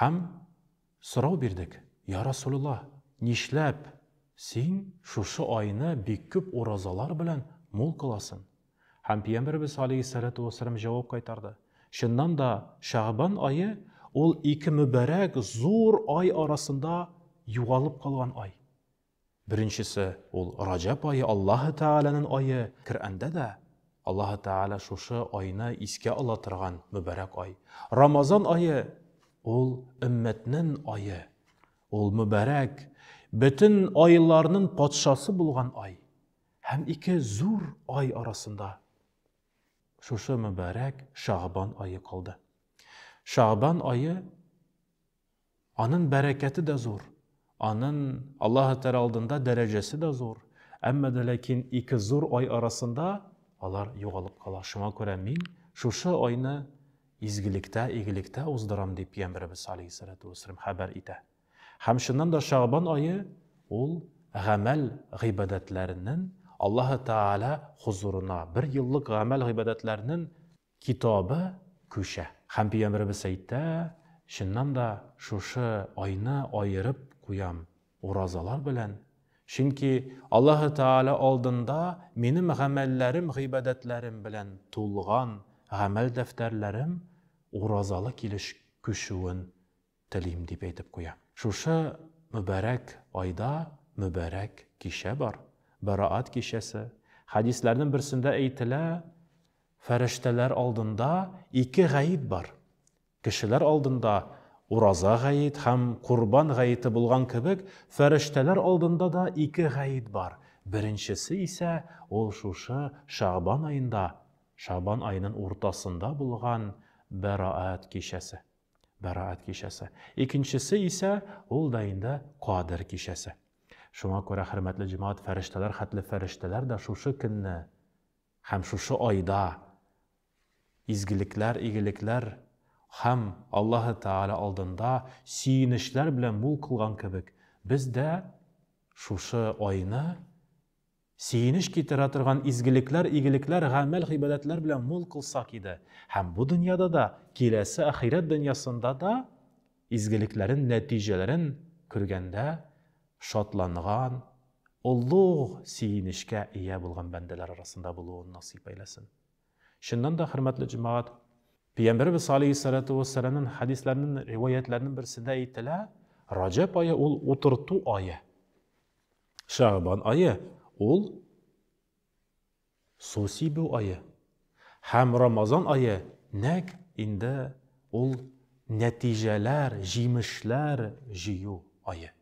Һәм сорау бирдек, Йа Расулулла, нишләп Син шушы айны бик күп уразалар белән мул кыласың? Һәм Пиямбәребез алейһиссәлату вәссәлам җавап кайтарды, Чыннан да, Шәгъбан ае, ул ике мөбарәк зур ай арасында югалып калган ай. Беренчесе, ул Раҗәб ае, Аллаһы Тәгаләнен ае. Коръәндә дә Аллаһы Тәгалә шушы айны искә ала торган мөбарәк ай. Рамазан ае, ул өммәтнен ае. Ул мөбарәк, бөтен айларнын патшасы булган ай. Һәм ике зур ай арасында шушы мөбарәк Шәгъбан ае калды. Шәгъбан ае Анын бәрәкәте дә зур, анын Аллаһы Тәгалә алдында дәрәҗәсе дә зур. Әмма дә ләкин ике зур ай арасында алар югалып кала. Шуңа күрә мин шушы айны изгелектә, игелектә уздырам, дип Пәйгамбәребез алейһиссәләтү вәссәлам хәбәр итә. Һәм чыннан да Шәгъбан ае ул гамәл гыйбадәтләренең Аллаһы Тәгалә хозурына, бер еллык гамәл гыйбадәтләренең Китабы күчә. Һәм Пәйгамбәребез әйтә, Чыннан да шушы айны аерып куям уразалар белән, чөнки Аллаһы Тәгалә алдында минем гамәлләрем, гыйбадәтләрем белән тулган гамәл дәфтәрләрем уразалы килеш күчүен телим, дип әйтеп куя. Шушы мөбарәк айда мөбарәк кичә бар, Бәраат кичәсе. Хәдисләрнең берсендә әйтелә, фәрештәләр алдында ике гаит бар. Кешеләр алдында ураза гаит һәм курбан гаете булган кебек, фәрештәләр алдында да ике гаит бар. Беренчесе исә ул шушы Шәгъбан аенда, Шәгъбан аеның уртасында булган Бәраат кичәсе. Бәраәт кичәсе. Икенчесе исә ул да инде Кадер кичәсе. Шуңа күрә, хөрмәтле җәмәгать, фәрештәләр хәтле фәрештәләр дә шушы көнне һәм шушы айда изгелекләр, игелекләр һәм Аллаһы Тәгалә алдында сөенечләр белән мул кылган кебек, без дә шушы айны Сөенеч китерә торган изгелекләр, игелекләр, гамәл-гыйбадәтләр белән мул кылсак иде, һәм бу дөньяда да, киләсе ахирәт дөньясында да изгелекләрен нәтиҗәләрен күргәндә шатланган, олуг сөенечкә ия булган бәндәләр арасында булуын насыйп әйләсен. Чыннан да, хөрмәтле җәмәгать, Пәйгамбәребез алейһиссалату вәссәламнең хәдисләренең, риваятьләренең берсендә әйтелә, Раҗәб ае ул утырту ае. Шәгъбан ае, ул су сибү ае. Һәм Рамазан ае, нәкъ инде ул нәтиҗәләр, җимешләр җыю ае.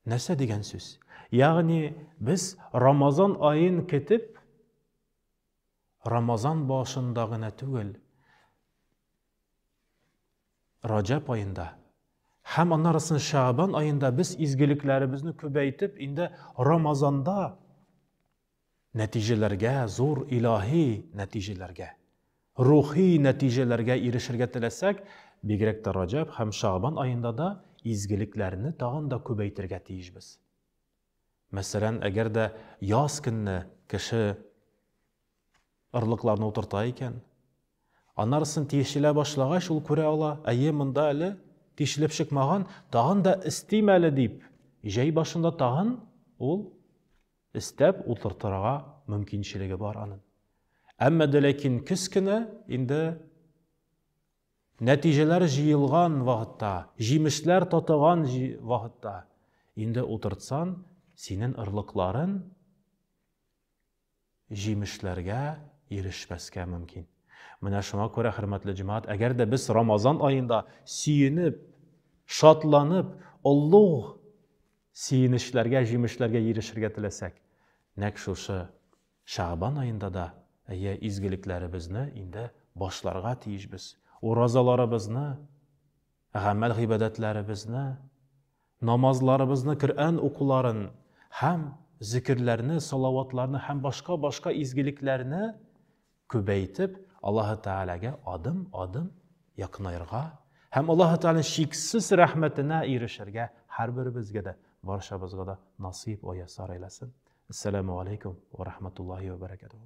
Нәрсә дигән сүз? Ягъни без Рамазан аен көтеп, Рамазан башында гына түгел, Раҗәб аенда һәм аннарысын Шәабан аенда без изгелекләребезне күбәйтеп, инде Рамазанда нәтиҗәләргә, зур илаһи нәтиҗәләргә, рухи нәтиҗәләргә ирешергә теләсәк, бигрәк тә Раҗәб һәм Шәабан аенда да изгелекләрне тагын да күбәйтергә тиешбез. Мәсәлән, әгәр дә яз көнне кеше Орлыкларны утырта икән. Анарысын тишелә башлагач, ул күрә ала, әйе, монда әле тишелеп чыкмаган, тагын да эстим әле дип, җәй башында тагын ул эстәп утыртырга мөмкинчелеге бар аның. Әмма дә ләкин көз кенә инде нәтиҗәләр җыелган вакытта, җимешләр тотыган вакытта инде утыртсан, синен ырлыкларын җимешләргә ирешмәскә мөмкин. Менә шуңа күрә, хөрмәтле җәмәгать, әгәр дә без Рамазан аенда сөенеп, шатланып, олуг сөенечләргә, җимешләргә ирешергә теләсәк, нәкъ шушы Шәгъбан аенда да әйе изгелекләребезне инде башларга тиешбез. Уразаларыбызны, гамәл гыйбадәтләребезне Намазларыбызны, Коръән укуларын һәм зекерләрне, салаватларны һәм башка-башка изгелекләрне күбәйтеп, Аллаһы Тәгаләгә адым-адым якынаерга һәм Аллаһы Тәгаләнең чиксез рәхмәтенә ирешергә һәрберебезгә дә, барчабызга да насыйп вә яссар әйләсен. Әссәламү алейкүм вә рахматуллаһи вә бәрәкәтүһү.